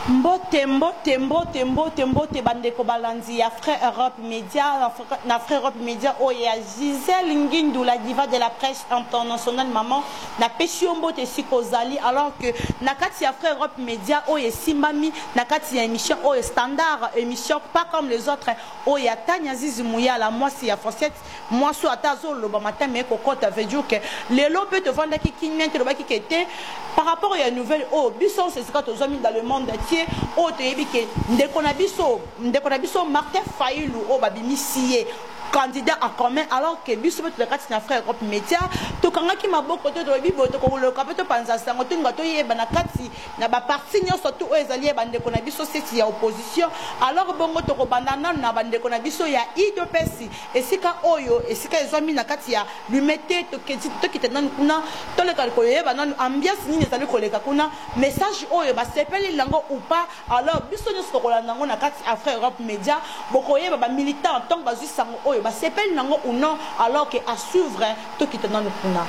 Mbote mbote mbote mbote mbote bandeko balandi ya Frais Europe Media na Frais Europe Media oyo ya Gisèle Ngindu la diva de la presse internationale maman na pesi yo mbote esika ozali alors que na kati ya Frais Europe Media oyo esimbami na kati ya émission oyo standard émission pas comme les autres oyo ya Tanya Zizi Muyala mwasi ya Fosette Mwasi oyo ata azo loba matama eye ko kota veut dire que lelo pe to vandaki kimia te lobaki ke te par rapport ya nouvelle oyo biso nionso esika to zwami dans le monde entier oyo to yebi ke ndeko na biso ndeko na biso Martin Fayulu oyo ba bimisi ye candidat en commun alors que biso betu na kati na frère Europe Media tokangaki maboko te tolobi boye tokoloka pe topanza sango tolinga toyeba na kati na ba partis nionso tout oyo ezali ya ba ndeko na biso seti ya opposition alors bongo toko banda nanu na ba ndeko na biso ya udps esika oyo esika ezwami na kati ya lumete tokita nanu kuna toleka koyeba nanu ambiance nini ezali koleka kuna message oyo ba sepeli nango ou pas alors biso nionso toko landa ngo na kati après Europe Media bokoyeba ba militants tango bazui sango oyo ba sepeli nango ou non alors que à suivre Tokita nanu kuna.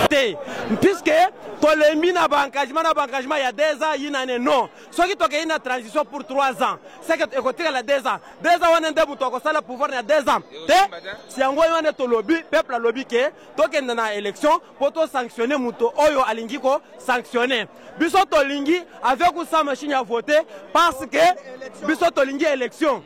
te puisque tolembi na ba engagement na ba engagement ya deux ans yinane non soki tokei na transition pour 3 ans seke ekotikala 2 ans 2 ans wana nde moto akosala pouvoir na 2 ans te si yango wana nde tolobi peuple alobi ke tokende na élection mpo tosanctionne moto oyo alingi kosanctionne biso tolingi avec usa machine ya vote parce que biso tolingi élection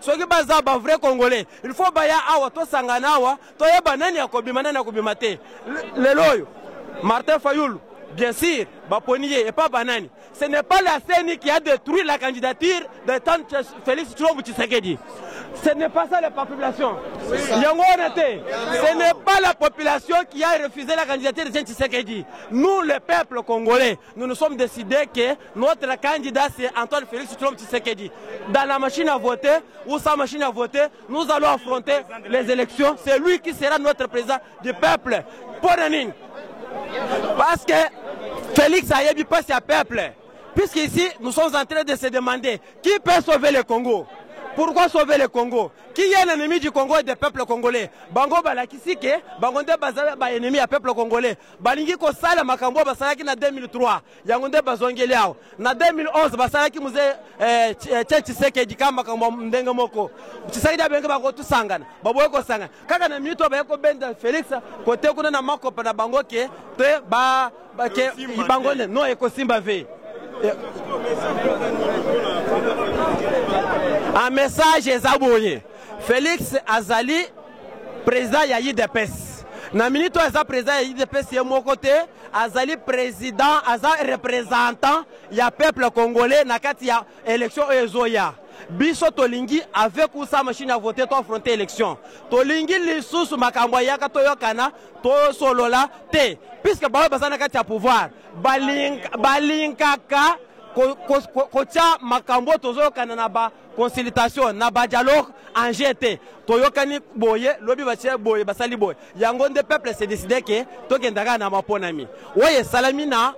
Soki baza ba vrai congolais il faut baya awa tosangana awa toyeba nani akobima nani akobima te lelo oyo Martin Fayulu bien sûr baponi ye epa banani ce n'est pas la CENI qui a détruit la candidature de tant Félix Tshilombo Tshisekedi ce n'est pas ça la population yango wana te ce n'est pas la population qui a refusé la candidature de Tshisekedi nous le peuple congolais nous nous sommes décidés que Notre candidat c'est Antoine Felix Tshilombo Tshisekedi. Dans la machine à voter ou sans machine à voter, nous allons affronter les élections. C'est lui qui sera notre président du peuple. Ponanin. Parce que Félix a eu pas à peuple. Puisqu'ici, nous sommes en train de se demander qui peut sauver le Congo. Pourquoi sauver le Congo Qui est l'ennemi du Congo et des peuples congolais Bango balakisi ke bango nde bazala ba ennemi ya peuple congolais. Balingi kosala makambo basalaki na 2003. yango nde bazongeli awa na 2011 basalaki muze eh, eh, che chisekedi ka makambo ndenge moko chisekedi abenge bakotusangana baboye kosangana kaka na minute oyo baye kobenda felix kote kuna na makopa na bango ke te ba, ba ke bango ne no ekosimba ve eh. a message eza boye felix azali president ya idps na minute oyo aza president ya idps ye moko te azali president aza representant ya peuple congolais na kati ya election oyo ezoya biso tolingi avec ou sans machine à voter toaffronte election tolingi lisusu makambo ayaka toyokana tosolola te puiske baoyo baza na kati ya pouvoir balinkaka kotya makambo oyo tozoyokana na ba consultation na ba dialogue en jete toyokani boye lobi batie boye basali boye yango nde peuple se décide ke tokenda kaka na maponami oyo esalami na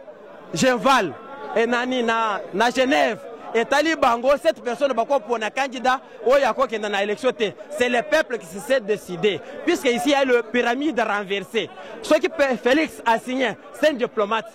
genval e nani na, na genève etali bango cette personne bakopona candidat oyo akokenda na élection te c'est le peuple qui se décide puisque ici ya le pyramide renversé soki félix asigne c'est un diplomate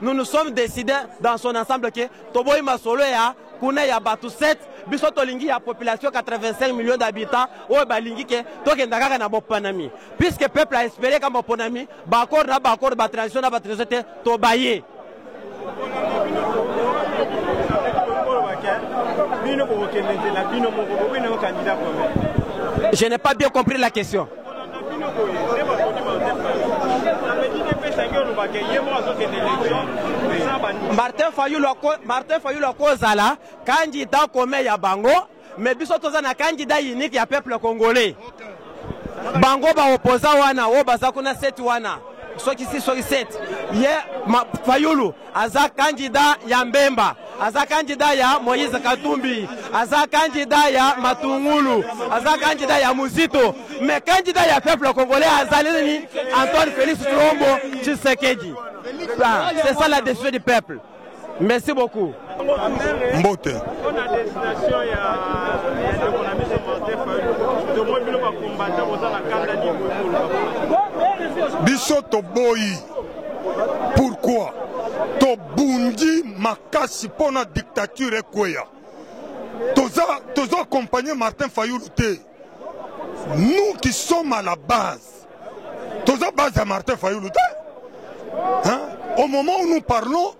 nous nous sommes decide dans son ensemble ke toboyi masolo ya kuna ya bato 7 biso tolingi ya population 85 millions d'habitants oyo balingi ke tokenda kaka na boponami puisque peuple a espere ka boponami baaccord na baaccord batransition na batransition te tobaye bino bokokende nzela bino moko bobene yo candidat commun je n'ai pas bien compris la question Martin Fayulu ako Martin Fayulu akozala candidat commun ya bango mais biso toza na candidat unique ya peuple congolais bango ba opposant wana oyo baza kuna seti wana soki si soki seti ye ma, Fayulu aza kandida ya Mbemba, aza kandida ya Moïse Katumbi, aza kandida ya Matungulu, aza kandida ya Muzito, me kandida ya peuple congolais azali nini? Antoine Felix Tshilombo Tshisekedi. Ah, c'est ça la décision du peuple. Merci beaucoup. Mbote. biso toboyi Pourquoi tobundi makasi mpo na dictature ekweya? Toza tozo accompagner Martin Fayulu te. Nous qui sommes à la base, toza base ya Martin Fayulu te. Hein? Au moment où nous parlons,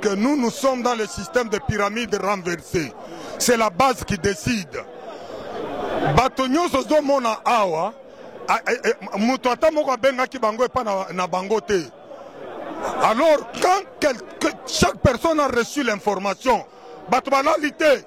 que nous nous sommes dans le système de pyramide renversée c'est la base qui décide bato nyonso ozomona awa moto ata moko abengaki bango epa na, na bango te alors quand quelque, chaque personne a reçu l'information bato balali te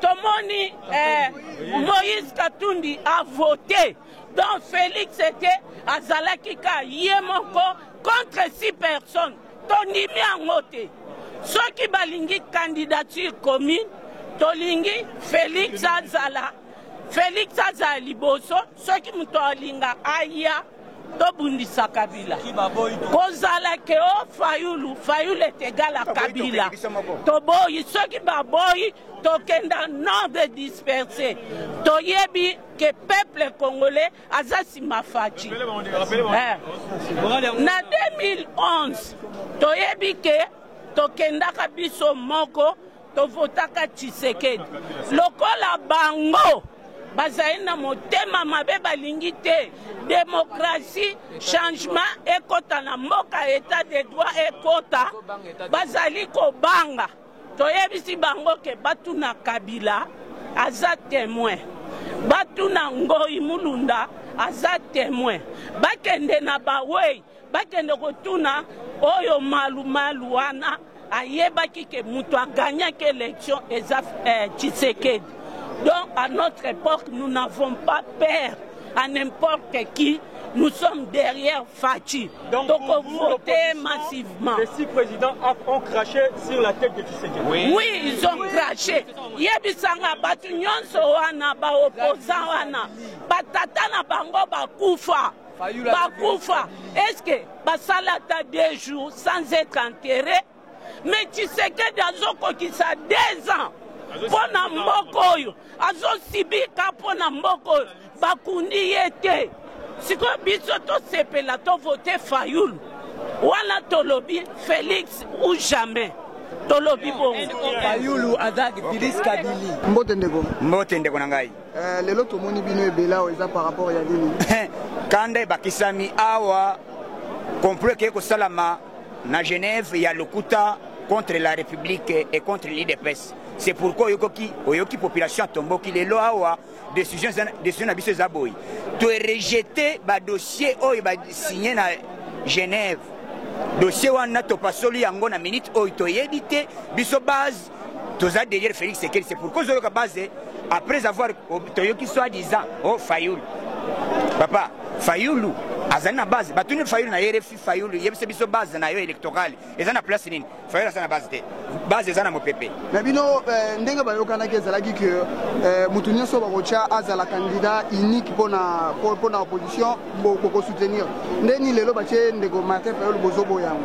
tomoni eh, moïse katundi avote donc félix ete azalaki ka ye moko contre six personnes tondimi yango te soki balingi candidature commune tolingi félix azala félix azala liboso soki moto alinga aya tobundisa kabila kozala ke o oh, fayulu fayulu est égal à kabila toboyi soki baboyi tokenda non de disperse toyebi ke peuple congolais aza nsima faci eh. na 2011 toyebi ke tokendaka biso moko To votaka Tshisekedi lokola bango bazali na motema mabe balingi te demokrasi changement ekota na mboka etat de droit ekota bazali kobanga toyebisi bango ke batuna kabila aza temoin batuna ngoi mulunda aza temoin bakende na bawei Bakende kotuna oyo malu malu wana ayebaki ke mutu agagnaki election eza eh, Tshisekedi. Donc à notre époque nous n'avons pas peur à n'importe qui nous sommes derrière Fatshi. Donc, Donc on votait massivement. Les six présidents ont craché sur la tête de Tshisekedi. Oui, oui ils ont oui. craché. Yebisanga batu nyonso wana ba opposants wana batata na bango bakufa. bakufa eske basala ata deux jours sans être enterré mais tshisekedi azokokisa deux ans mpo na mboka oyo azosibika mpo na mboka oyo bakundi ye te sikoyo biso tosepela tovote fayulu wana tolobi felix ou jamais tolobi bongo fayulu aza bilis kabili mbote ndeko mbote ndeko na ngai Eh, lelo tomoni bino ebele awa eza par rapport ya nini eh, kanda ebakisami awa complot ekei kosalama na genève ya lokuta contre la république et contre l'idps c'est pourquoi oyokoki oyoki population atomboki lelo awa décision décision na biso eza boye toerejete badossier oyo basigne na genève dossier wana topasoli yango na minute oyo toyebi te biso base toza derrière Felix Sekeli c'est pourquoi ozoloka base après avoir oh, toyoki soit disant oh Fayulu papa Fayulu azali na base batuni Fayulu na ye refi Fayulu yebisa biso base na yo électorale eza na place nini Fayulu aza na base te base eza na mopepe na bino eh, ndenge bayokanaki ezalaki ke eh, moto nyonso bakotya azala candidat unique mpo na opposition bokosoutenir nde nini lelo batye ndeko martin Fayulu bozoboyango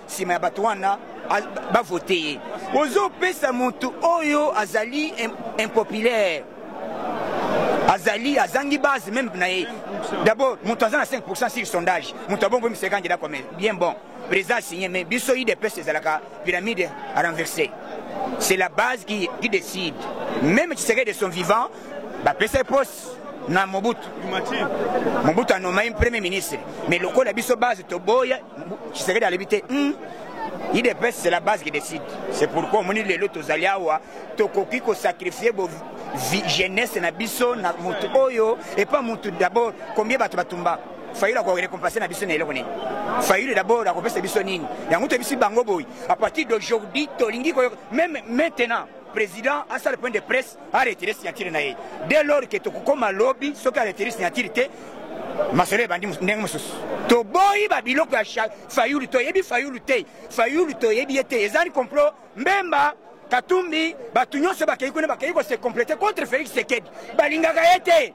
nsima ya bato wana bavote ye ozopesa moto oyo azali impopulaire azali azangi base meme na ye d'abord moto aza na 5 pourcent sur sondage moto abongo misa kandida comme bien bon président asigne mais biso idps ezalaka pyramide à renverser c'est la base qui, qui décide même tshisekedi de son vivant bapesa ye poste na Mobutu. Mobutu a nommé premier ministre. Mais lokola biso base toboya Tshisekedi alobi te. Hmm. IDPS c'est la base qui décide. C'est pourquoi omoni lelo tozali awa tokoki ko sacrifier bo jeunesse na biso na mutu oyo et pas mutu d'abord combien bato batumba fayulu akorekompense na biso na eloko nini fayulu d'abord akopesa biso nini yango toyebisi bango boye à partir d'aujourd'hui tolingi koyoka meme maintenant président asala point de presse a retire signature na ye dès lors que tokokoma lobi soki a retire signature te masolo ebandi ndenge mosusu toboyi babiloko ya fayulu toyebi fayulu te fayulu toyebi ye te ezali complot mbemba katumbi bato nyonso bakei kuna bakei kose complete contre félix sekedi balingaka ye te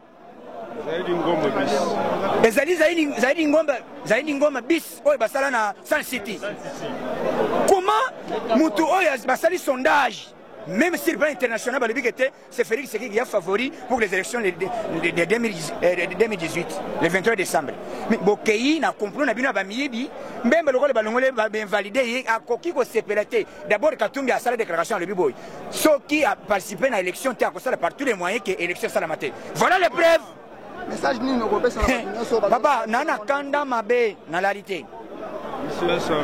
Zaidi Ngoma bis. Ezali Zaidi, Zaidi Ngoma, Zaidi Ngoma bis oyo basala na Sun City. Comment mutu oyo basali sondage même sur le plan international balobi que c'est Félix Tshisekedi ya favori pour les élections de, de, de, 2018 euh, le 23 décembre mais bokei na complot na bino ya bamiyibi mbembe lokola balongoli bainvalide ye akoki kosepela te d'abord katumbi asala déclaration alobi boye soki a participer na election te akosala par tous les moyens que election esalama te voilà les preuves message nini okopesa na bato nyonso ba- papa na na kanda mabe nalali te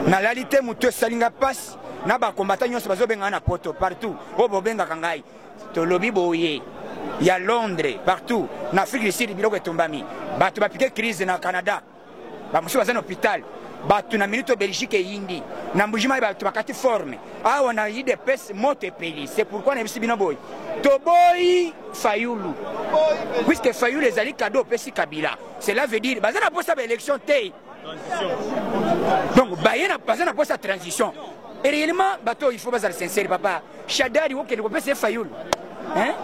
nalali te motu esali ngai mpasi na bakombata nyonso bazobengana na poto partout oyo bobengaka ngai tolobi boye ya londres partout na afrique du sud biloko etumbami bato bapike crise na canada bamosusu baza na hopital bato na minute belgique eyindi na mbujimai bato bakati forme awa na idps moto epeli c'est pourquoi nayebisi bino boye toboyi fayulu puisque fayulu ezali kado opesi kabila cela veut dire baza na mposa baélection te donc baye baza na mposa transition et réellement bato oyo il faut bazala sincere papa Shadari okende kopesa ye Fayulu hein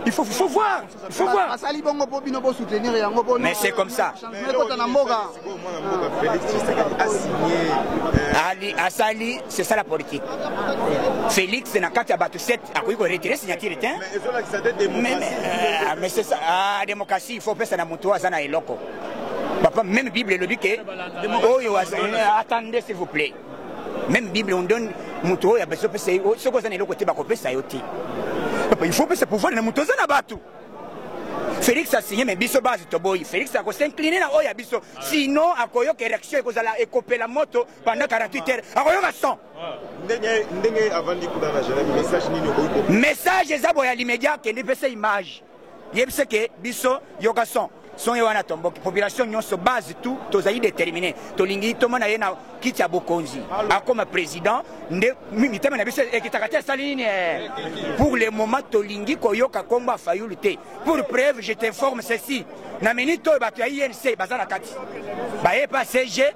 il faut, faut voir il faut voir basali bongo mpo bino bosoutenir yango mpo mais c'est comme ça ekota na mboka ali asali c'est ça la politique félix na kati ya bato 7 akoki koretire signature te mais c'est ça ah, démocratie il faut opesa na moto aza na eloko papa même bible elobi ke oyo attendez s'il vous plaît meme bible on donne moto oyo abazo pesa ye soki oza na eloko te bakopesa yo te papa il faut pesa pouvoir na moto oza na bato félix asigne me biso base toboyi félix akosincline na oyo ya biso sinon akoyoka érection ekozala ekopela moto pendant 48 heures akoyoka son message eza boya limedia akende pesa image Yebisa ke biso yoka son son ye wana tomboki population nyonso base tout tozali determine tolingi tomona ye na kiti ya bokonzi akoma président nde mitema na biso ekitaka te asali nini eh? pour le moment tolingi koyoka nkombo ya fayulu te pour preuve je t'informe ceci na minute oyo bato ya inc baza na kati baye pa cg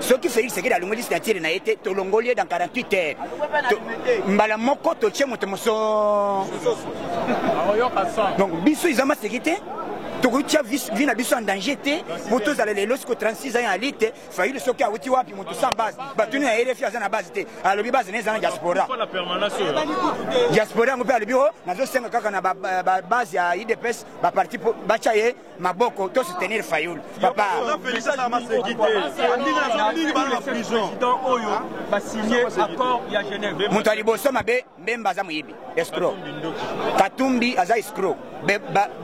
soki Felix Tshisekedi alongoli signature na ye te tolongoli ye dans 48 heures mbala moko totie moto moso donc biso eza maseki te tokoki tia vi na biso en danger te po tozala lelo siko 36 ans ya lite fayulu soki awuti wapi moto sans base batuni ya rfi aza na base te alobi base na eza na diaspora diaspora yango mpe alobi o oh, nazosenga kaka na babase ya idps baparti batia ye maboko to soutenir fayulu papa moto ya liboso mabe mbemba aza moyibi escro katumbi aza escro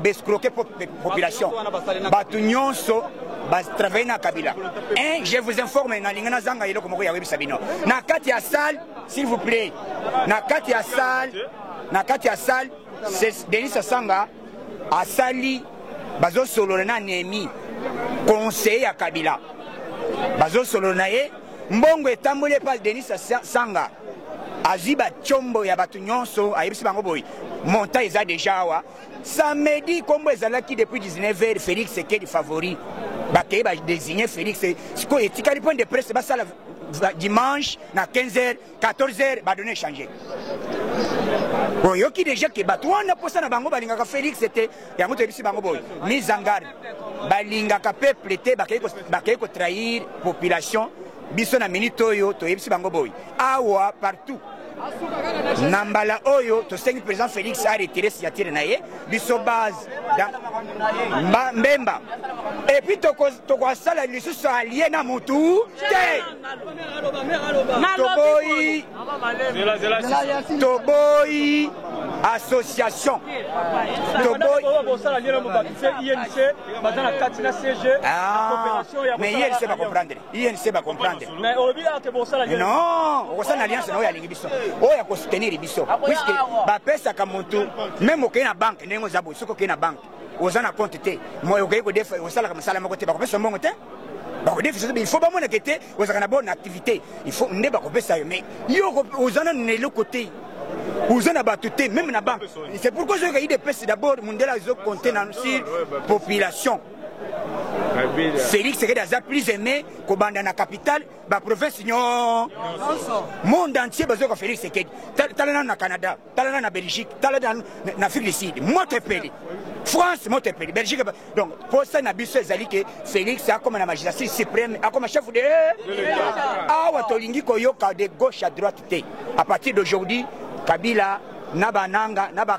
bescroke population bato nyonso batravaille na kabila un je vous informe nalingi nazanga eloko moko ya webisa bino na kati ya salle s'il vous plaît na kati ya salle na kati ya salle denis asanga Asali bazo solola na Nehemie conseiller ya Kabila bazo solola na ye mbongo etamboli epa Denis Sanga azwi ba chombo ya bato nyonso ayebisi bango boye montant eza deja awa samedi kombo ezalaki depuis 19 heures Felix Sekedi favori bakei ba désigner Felix sikoyo etikali point de presse basala dimanche na 15 heures 14 heures ba donner changer oyoki deja ke bato wana mposa na bango balingaka félix te yango toyebisi bango boye mise en garde balingaka peuple te bakei kotrahir population biso na minute oyo toyebisi bango boye awa partout na mbala oyo tosengi président félix aretire signature na ye biso base mba, mbemba epuis tokosala toko lisusu alie na mutu te toboyi toboyi association toboyi mais ye lise bakomprendre INC ba comprendre. Mais olobi là que bon sala. Non, on sala alliance na oyo alingi biso. Oyo ya ko soutenir biso. Puisque ba pesa ka mutu même okeyi na banque ndenge oza boye soki okeyi na banque oza na compte te moye okeyi kodefa osalaka mosala moko te bakopesa mbongo te bakodefisa il faut bamonaka te ozalaka na bonne activité il faut nde bakopesa yo mais yo oza nanu na eloko te oza na bato te meme na banque c'est pourquoi ozoyoka idps d'abord mundela azo compte na sur population Felix Sekedi aza plus aimé kobanda na capitale ba province nyo monde entier bazo ko Felix Sekedi tala na na Canada tala na na Belgique tala na na Afrique du Sud moto epeli France moto epeli Belgique donc posa na biso ezali ke Felix akoma na magistrat suprême akoma chef de awa tolingi koyoka de gauche à droite te à partir d'aujourd'hui Kabila na bananga na ba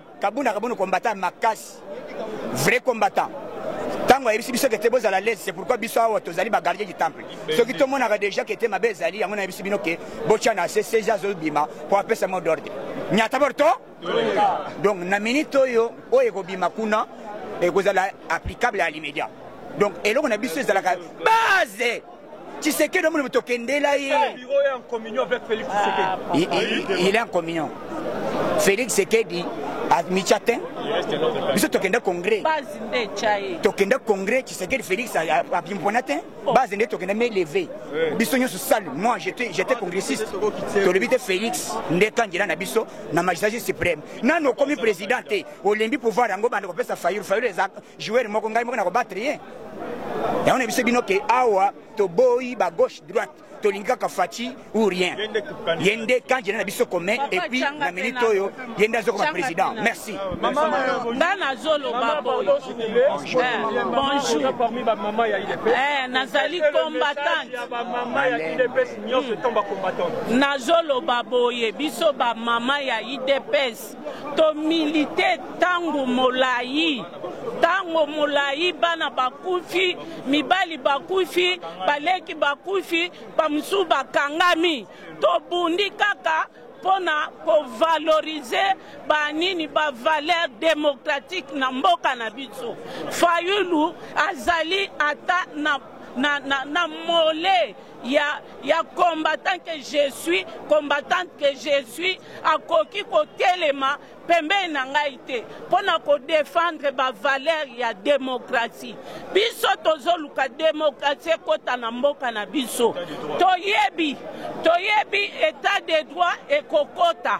Kabund akabund combattant makasi vrai combattant ntango ayebisi biso kete bozala lese c'est pourquoi biso awa tozali bagardien du temple soki tomonaka déjà kete mabe ezali yango nayebisi bino ke botya na se sezi azobima mpo apesa mot d'ordre nyata borto donc na minute oyo oyo ekobima kuna ekozala applicable à l'immédiat donc eloko na biso ezalaka base Tshisekedi omoni moto okendela ye. Eh, il est en communion. Félix Tshisekedi amicha te biso tokenda congrès tokenda congrès tshisekedi félix abimpona te oh. base nde tokenda me leve biso nyonso sale moi j'étais congressiste tolobi te félix nde kandida na biso na magistrat suprême nanu okomi président te olembi pouvoir yango banda kopesa fayulu fayulu eza Joueur moko ngai moko na ko battre ye. Yango na biso bino ke awa toboyi ba gauche droite tolingi kaka Fatshi ou rien. Ye nde candidat na biso commun et puis na minute oyo ye nde azokoma président. Merci. Nga nazoloba boye. Eh, Bonjour. Eh, nazali combattante. Nazoloba boye biso ba mama ya IDPS To milite tango molayi tango molayi bana bakufi mibali bakufi baleki bakufi bamosusu bakangami tobundi kaka mpo na kovalorize banini bavaleur demokratike na mboka na biso fayulu azali ata na, na, na, na mole ya, ya combattant que je suis, combattante que je suis, akoki kotelema pembeni na ngai te mpo na kodefendre bavalere ya demokrasi. Biso tozoluka demokrasi ekota na mboka na biso, toyebi toyebi etat de droit ekokota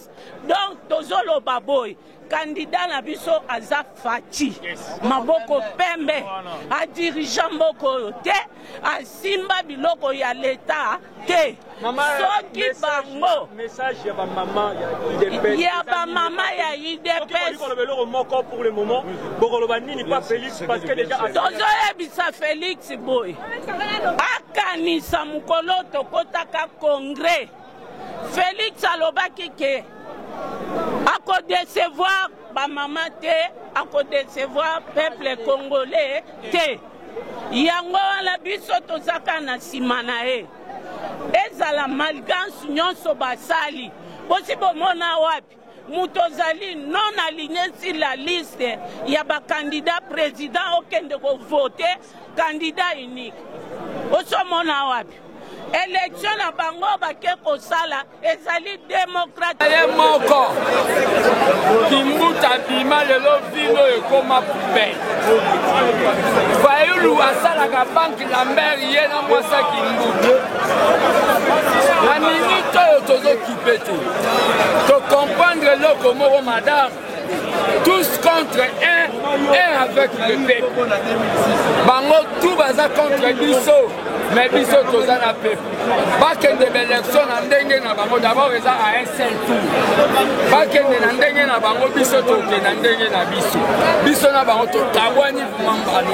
donc tozoloba boye kandida na biso aza faci maboko pembe adirige mboka oyo te asimba biloko ya leta te soki bango ya bamama ya idepstozoyebisa felix boye akanisa mokolo tokotaka congrès Felix alobaki ke ako decevoir ba mama te, ako decevoir peuple congolais te. Yango wana biso tozaka na nsima na ye, ezala malgance nyonso basali bosi bomona wapi moto ozali non aligne sur la liste ya bakandida président okende kovote kandida unique osomona wapi elektio na bango bake kosala ezali demokrati ye moko kimbuta bima lelo vino ekoma poubele fayulu asalaka banke lambert ye na mwasa kimbuta na minute oyo tozoki Pete. To comprendre loko moko madame. Tous contre un, un avec le peuple. Bango tout baza contre biso. mais biso toza na pepe bakende baelektio na ndenge na bango dabord eza a un seul tour bakende na ndenge na bango biso toke na ndenge na biso biso na bango tokabwani vraiment mbale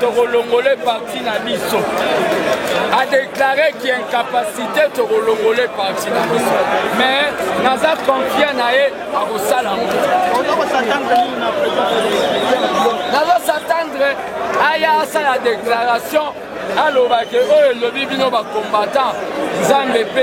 tokolongole parti na biso adeklare ki incapacité tokolongole parti na biso mais naza confia na ye akosala nazo s'attendre aya asala déclaration alobaki oyo elobi bino bacombattant nzambe mpe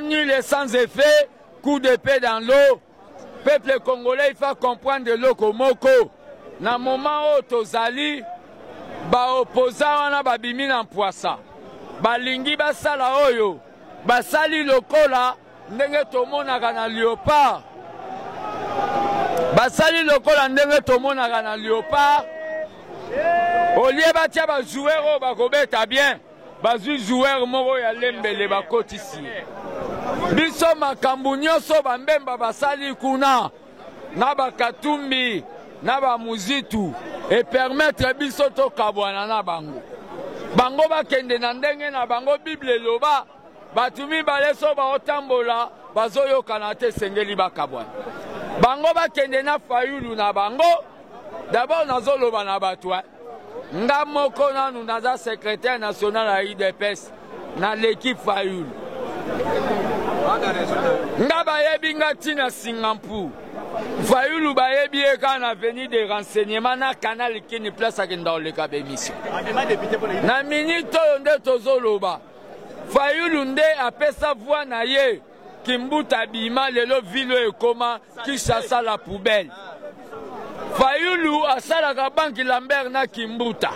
nul et sans effet, coup d'épée dans l'eau. Peuple congolais, il faut comprendre de loko moko. Na moment oyo tozali baopoza wana babimi na mpwasa balingi basala oyo basali lokola Ndenge tomonaka na leopard. Basali lokola ndenge tomonaka na leopard. Olie batia ba joueur oyo bakobeta bien, bazwi joueur moko ya lembele bakotisi ye. Biso makambo nyonso bambemba basali kuna na bakatumbi na bamuzitu epermetre biso tokabwana na bango. Bango bakende na ndenge na bango, Bible eloba Bato mibale so baotambola bazoyokana te esengeli bakabwana. Bango bakende na Fayulu na bango. D'abord nazoloba na bato eh. Nga moko nanu naza secrétaire national ya UDPS na leki Fayulu. Nga bayebi nga tina Singampur. Fayulu bayebi ye kaka na avenue de renseignement na canal kini place akenda koleka bemission. Na minute oyo nde tozoloba. Fayulu nde apesa voix na ye kimbuta abima lelo ville oyo ekoma Kinshasa la poubelle Fayulu asalaka banki Lambert na kimbuta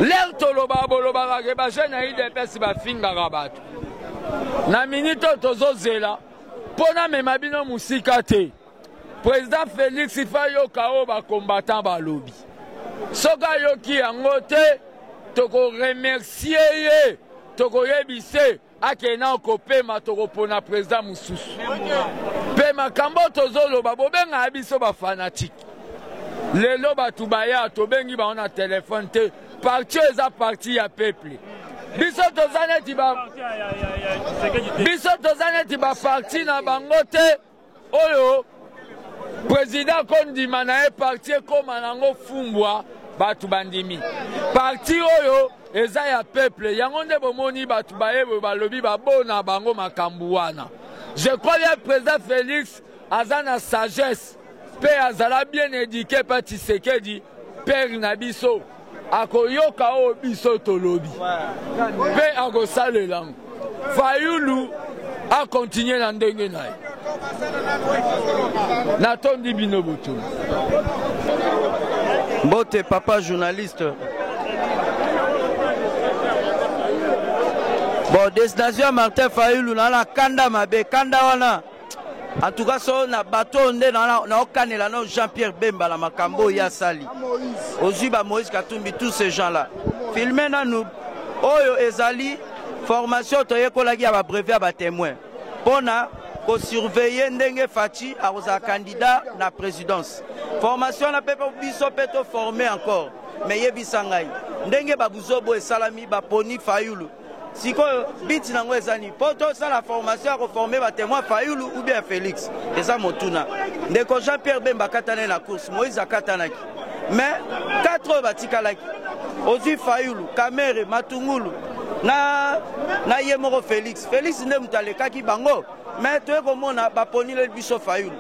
ler toloba bolobaka ke ba jeune ya idps bafingaka bato na minute oyo tozozela mpo namema bino mosika te President Felix il faut ayoka oyo ba combattants balobi. Soki ayoki yango te, toko remercier ye, tokoyebise akende nao kopema, tokopona president mosusu. Mpe makambo oyo tozoloba, bobengaka biso ba fanatique. Lelo bato baya, tobengi bango na telefone te. Parti oyo eza parti ya peuple. Biso toza neti ba, biso toza neti ba parti na bango te. Oyo president ko ndima na ye parti ekoma na ngo fumbwa batu ba ndimi parti oyo eza ya peuple yango nde bo moni batu ba ye ba lobi ba bona bango makambu wana je crois bien president Felix aza na sagesse pe azala bien eduque pa Tshisekedi père na biso. akoyoka oyo biso tolobi mpe akosalela yango fayulu akontinue na ndenge na ye natondi bino botuni mbote papa journaliste bon destination ya martin fayulu na na kanda mabe kanda wana En tout cas, so na bateau nde na na okanela no Jean-Pierre Bemba na makambo oyo asali. Ozwi ba Moïse Katumbi tous ces gens là. Filme nanu oyo ezali formation toyekolaki ya ba brevet ya ba témoins pona ko surveiller ndenge Fatshi akozala candidat na présidence. Formation na pepe biso pe to former encore. Mais yebisa ngai ndenge ba buzobo esalami baponi Fayulu sikoyo biti nango eza nini mpo tosala formation ya koforme batemoin fayulu ou bien félix eza motuna ndeko jean pierre bemba akatanaki na course moïse akatanaki mais 4 oyo batikalaki ozwi fayulu kamere matungulu na, na ye moko félix félix nde moto alekaki bango Mais toye komona baponileli biso Fayulu.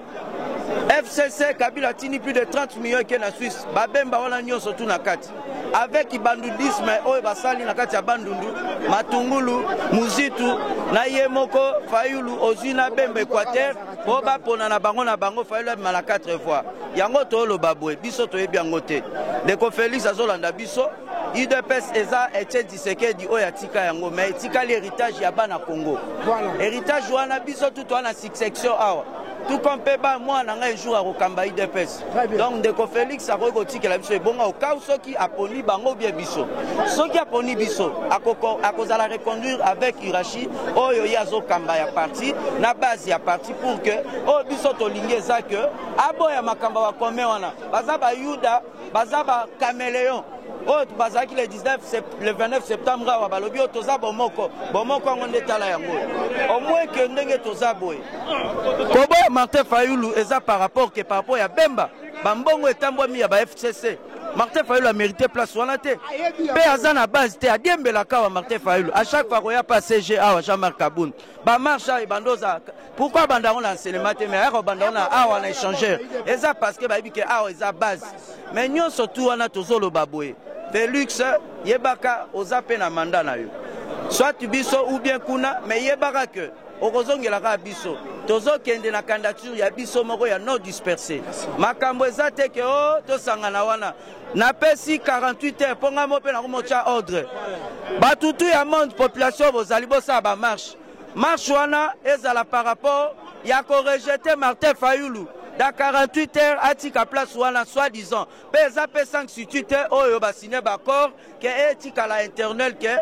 FCC Kabila atindi plus de 30 millions eke na Suisse. Babemba wana nyonso tu na kati. Avec bandundisme oyo basali na kati ya bandundu, matungulu, muzitu na ye moko Fayulu ozwi na Bemba Equateur po bapona na bango na bango Fayulu abima na 4 fois. Yango tooloba boye biso toyebi yango te. Ndeko Felix azolanda biso. UDPS eza etie Tshisekedi oyo atika yango mais etikali heritage ya bana Congo. Voilà. Heritage wana biso tout wana succession awa. Tout comme Peba mwana ngai jour akokamba IDPS. Donc ndeko Felix akoki kotikela biso ebonga okau soki aponi bango bien biso. Soki aponi biso akoko akozala reconduire avec Irachi oyo ye azokamba ya parti na base ya parti pour que oyo biso tolingi eza que aboya makambo ya commun wana baza bayuda baza ba cameleon oyo bazalaki le 19 le 29 septembre awa balobi oyo toza bomoko bomoko yango nde tala yango omweke ndenge toza boye koboya martin fayulu eza par rapport ke par rapport ya bemba bambongo etambwami ya ba fcc martin fayulu amérite place wana te mpe aza na base te adiembelaka awa martin fayulu a chaque fois koya mpe asg awa jean marc abund ba marche awa ebanda oza pourquoi abanda yango na enseignement te mais ayaka obanda yango na awa na échangeur eza parce que bayebi ke awa eza base mais nyonso tu wana tozoloba boye felix yebaka oza mpe na manda na yo soit biso ou bien kuna mais yebaka ke okozongela kaka biso tozokende na candidature ya biso moko ya non disperse makambo eza te ke o oh, tosangana wana Napesi 48 heures mpo ngai moko mpe nakomotya ordre. Bato tu ya monde population bozali bosala ba marche. Marche wana ezala par rapport ya korejete Martin Fayulu dans 48 heures atika place wana soit disant mpe eza mpe sanctitude te oyo basine baaccord ke etikala internel ke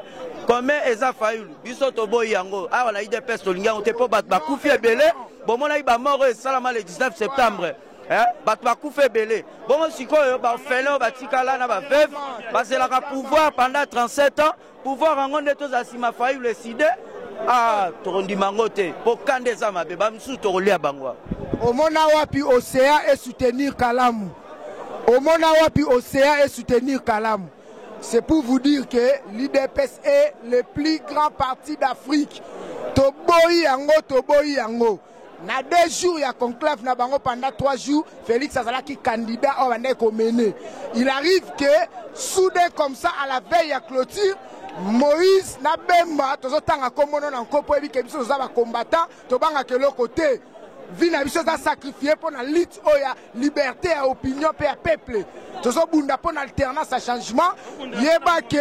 kome eza fayulu biso toboyi yango awa na idps tolingi yango te mpo bato bakufi ebele bomonaki bamort oyo esalama le 19 septembre eh, bato bakufa ebele bongo sikoyo baorphelin oyo batikala na baveuve bazelaka pouvoir pendant 37 ans pouvoir yango nde tozala nsima fayulu eside ah, tokondima yango te mpo kanda eza mabe bamosusu tokolia bango omona wapi osea esoutenir kalamu omona wapi osea esoutenir kalamu c'est pour vous dire que l'idps est le plus grand parti d'afrique toboyi yango toboyi yango na deux jours ya conclave na bango pendant trois jours félix azalaki candidat oyo abandaki komene il arrive que soudain comme ça à la veille ya clôture moïse na bemba tozotanga nkombono na nko mpo yebi ke biso toza bacombattant tobangaka eloko te vie na biso eza sacrifie mpo na lutte oyo ya liberté ya opinion mpe ya peuple tozobunda mpo na alternance ya changement yeba ke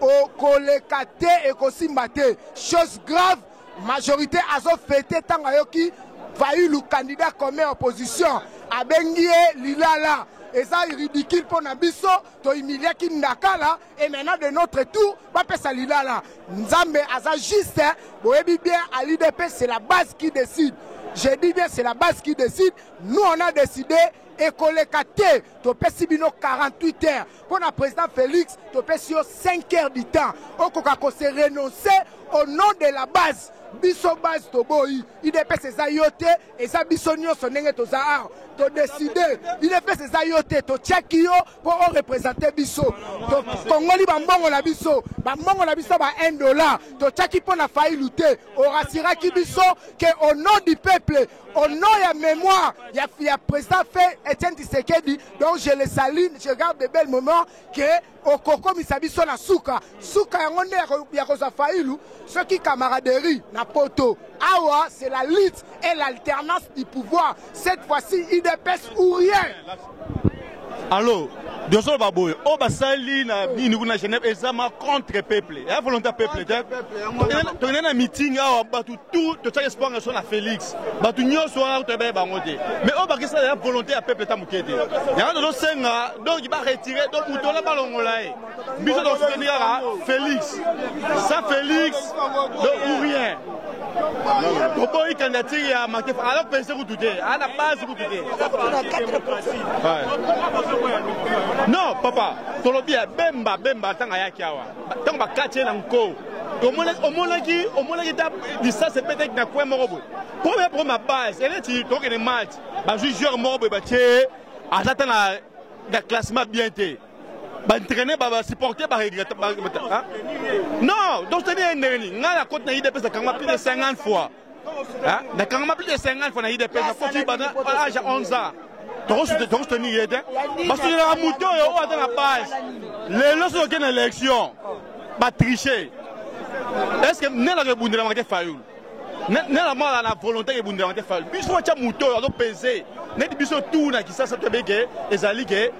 okoleka te ekosimba te chose grave Majorite azo fete tango ayoki Fayulu candidat comme opposition abengi ye lilala eza ridicule mpo na biso tohumiliaki ndakala et maintenant de notre tour bapesa lilala nzambe aza juste boyebi bien à l'idp c'est la base qui décide je dis bien c'est la base qui décide nous on a décidé ekoleka te topesi bino 48 heures mpo na president Felix topesi yo 5 heures du temps okoka ko se renoncer au nom de la base biso base toboyi udps eza yo te eza biso nyonso ndenge toza awa todeside udps eza yo te totyaki yo mpo orepresente biso tokongoli bambongo na biso bambongo na biso ba 1 dollar totyaki mpo na failu te orasiraki biso ke au nom du peuple au nom ya mémoire ya, ya président fait Etienne Tshisekedi donc je le salue je garde de belles moments que okokomisa biso na suka suka yango nde ya kozwa failu soki camaraderie na poto awa c'est la lutte et l'alternance du pouvoir cette fois-ci idps ou rien Allo Dioso ba boye o basali na nini kuna Genève ezama contre peuple ya volonté ya peuple te tokende na meeting awa bato tout totiaka espoir na biso na Félix bato nyonso wana toyeba ye bango te mais oyo bakisala ya volonté ya peuple ta moke te yango tozosenga donc ba retire donc moto wana balongola ye biso tosuteni kaka félix sa félix de ou rien toboyi candidature ya matefa alors pese kutu te ana base kutu te non papa tolobi ya bemba bemba ntango ayaki awa ntango bakati ye na nko omonaki omonaki ta lisasi epetaki na coin moko boye premier problème ya base eleti tokokende match bazwi joueur moko boye batie aza ta na classement bien te ba entraîner ba ba supporter ba regretter ba hein? non donc c'est un dernier nga la côte na idée pesa kanga plus de 50 fois hein na kanga plus de 50 fois na idée pesa ko tu bana âge 11 ans tokosuteni ye te basotelaka moto oyo oyo aza na base lelo soki okende na élection batriche est ce que nde nako ebundelamaka te fayulu nelamala na volonté ke bundela te fali biso watya moto oyo azo pese neti biso tour na kisasa toyebi ke ezali ke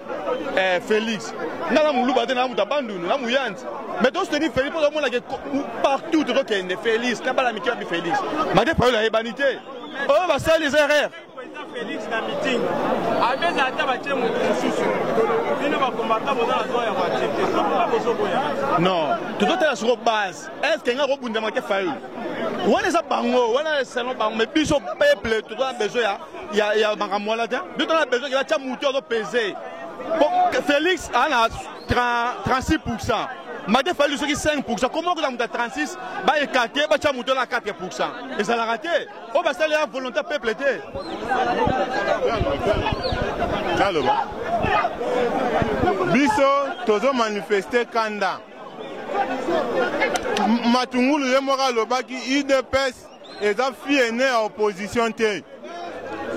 eh, félix nga na moluba te na moto abandundu na moyanzi mais to soutenir félix mpo tozomona ke partout tozokende félix na bana mike babi félix mate fayolo ayebani te oyo basali eza erreur non tozotala soko base estce nga kobundama te fayulu wana eza bango wana selon bango mais biso peuple toza na besoin ya, ya makambo wana te biso toza na besoin batya motu azo pese félix aa na 36 pourcent mate fayulu soki 5 pourcent koma okozala moto ya 36 baekate batya motu wana 4 pourcent ezalaka te oyo basali ya volonté ya peuple te naloba biso tozo manifeste kanda matungulu ye moko alobaki udps eza fille ene ya opposition te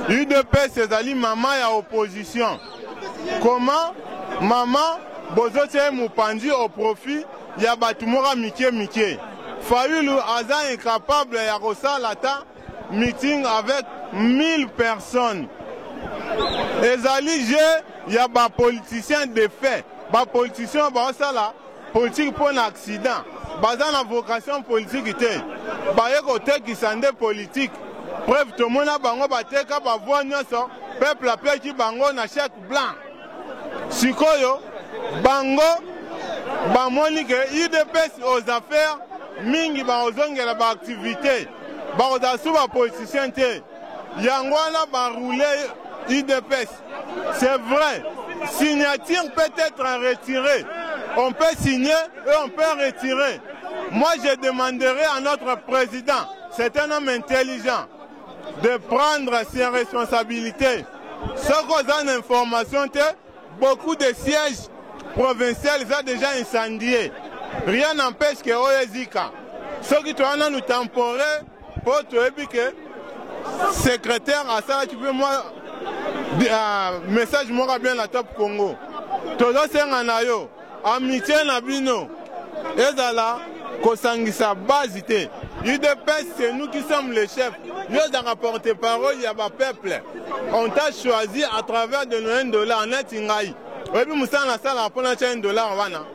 udps ezali mama ya opposition koma mama bozotya ye mopanzi au profit ya batu moka mike mike. Fayulu aza incapable ya kosala ata meeting avec 1000 personnes. Ezali jeu ya ba politiciens de fait. Ba politiciens oyo baosala politique mpo na accident. Baza na vocation politique te. Baye kotekisa nde politique. Preuve tomona bango bateka ba voix nionso peuple apeki bango na chèque. Blanc. Sikoyo bango bamoni ke udps aux affaires mingi bakozongela ba activité bakozala su ba politicien te yango wana baroule udps c'est vrai signature peut être à retirer on peut signer et on peut retirer moi je demanderai à notre président c'est un homme intelligent de prendre ses responsabilités soki oza na information te beaucoup de sièges provincial eza déjà incendie rien n'empêche que oyo ezika soki toya nanu temporaire mpo toyebi ke secrétaire asalaki mpe mwa uh, message moko bien na top congo tozosenga na yo Amitie na bino ezala kosangisa base te. UDPS c'est nous qui sommes les chefs. Yo ozanga porte-parole ya ba peuple. On t'a choisi à travers de nos 1 dollar neti ngai. Oyebi musala na sala mpo na 1 dollar wana.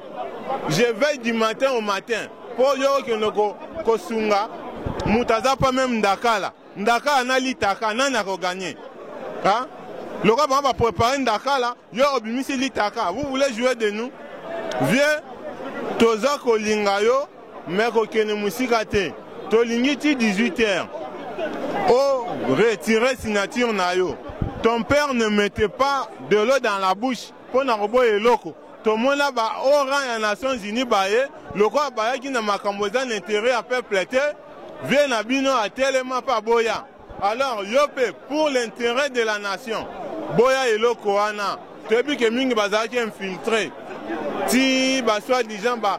Je veille du matin au matin mpo yo okende kosunga moto aza mpo meme ndakala. Ndakala na litaka nani ako gagne hein? Lokola bango ba prepare ndakala yo obimisi litaka vous voulez jouer de nous vieux toza kolinga yo mais kokende mosika te tolingi ti 18 heures o retire signature na yo ton père ne mette pas de l'eau dans la bouche Mpo na koboya eloko, tomona ba haut rang ya Nations Unies baye, lokola bayaki na makambo eza na interet ya peuple te, vieux na bino atelema mpe aboya. Alors yo mpe pour l'interet de la nation, boya eloko wana. Toyebi que mingi bazalaki infiltres, ti ba soit disant ba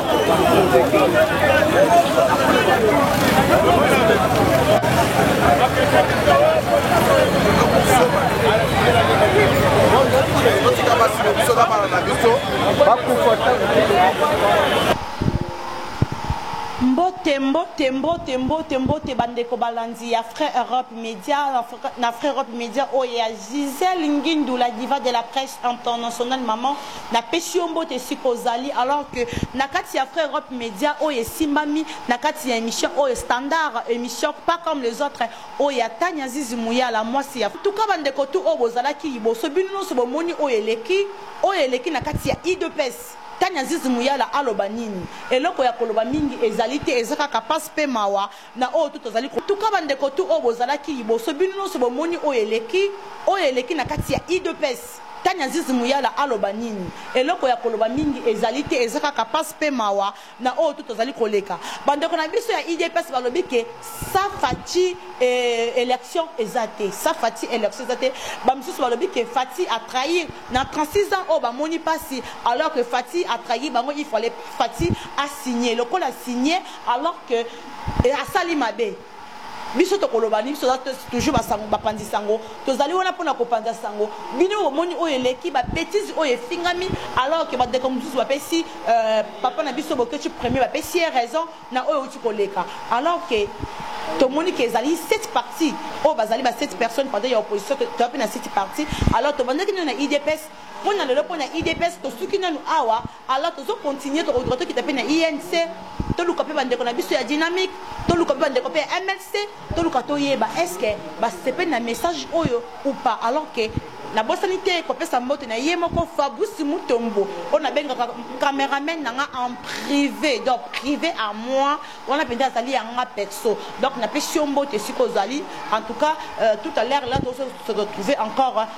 mbote mbote mbote mbote mbote bandeko balandi ya frais europe media na frais europe media oyo ya gisele ngindula diva de la presse internationale maman Na pesi yo mbote esika ozali alors que na kati ya Fre Europe Media oyo esimbami na kati ya emission oyo standard emission pas comme les autres oyo ya Tanya Zizi Muyala muasi ya En tout cas ba ndeko tout oyo bozalaki liboso bino nionso bomoni oyo eleki oyo eleki na kati ya udps Tanya Zizi Muyala aloba nini eloko ya koloba mingi ezali te eza kaka pasi pe mawa na oyo tout tozali ko. Tuka ba ndeko tout oyo bozalaki liboso bino nionso bomoni oyo eleki oyo eleki na kati ya udps tani azizi muyala aloba nini eloko ya koloba mingi ezali te eza kaka pasi pe mawa na oyo tout tozali koleka ba ndeko na biso ya udps balobi ke sa fati eh, election eza te sa fati election eza te ba misusu balobi ke fati a trahir na 36 ans oyo bamoni pasi alors que fati a trahir bango il fallait fati a signer lokola signer alors que et asali mabe biso tokoloba nini biso toza toujours basango bapanzi sango tozali wana mpona kopanza sango bino bomoni oyo eleki babetise oyo efingami alors ke bandeko mosusu bapesi euh, papa na biso bokeci premier bapesi ye raison na oyo euti koleka alors ke tomoni ke ezali cette partie oyo bazali ba cette personne pendant ya opposition toya mpe na cette partie alors tobandaki nino na idps mpo na lelo mpo na idps tosuki nanu awa Alors tozo continuer tokoduka tokita pe na INC toluka pe bandeko na biso ya dynamique toluka pe bandeko pe ya MLC toluka toyeba est ce que basepeli na message oyo ou pas alors que nabosani te kopesa mbote na ye moko fabusi mutombo oyo nabengaka cameraman na nga en privé donc privé à moi wana mpenza azali ya nga perso donc napesi yo mbote esika ozali en tout cas euh, tout à l'heure là tozo se retrouver encore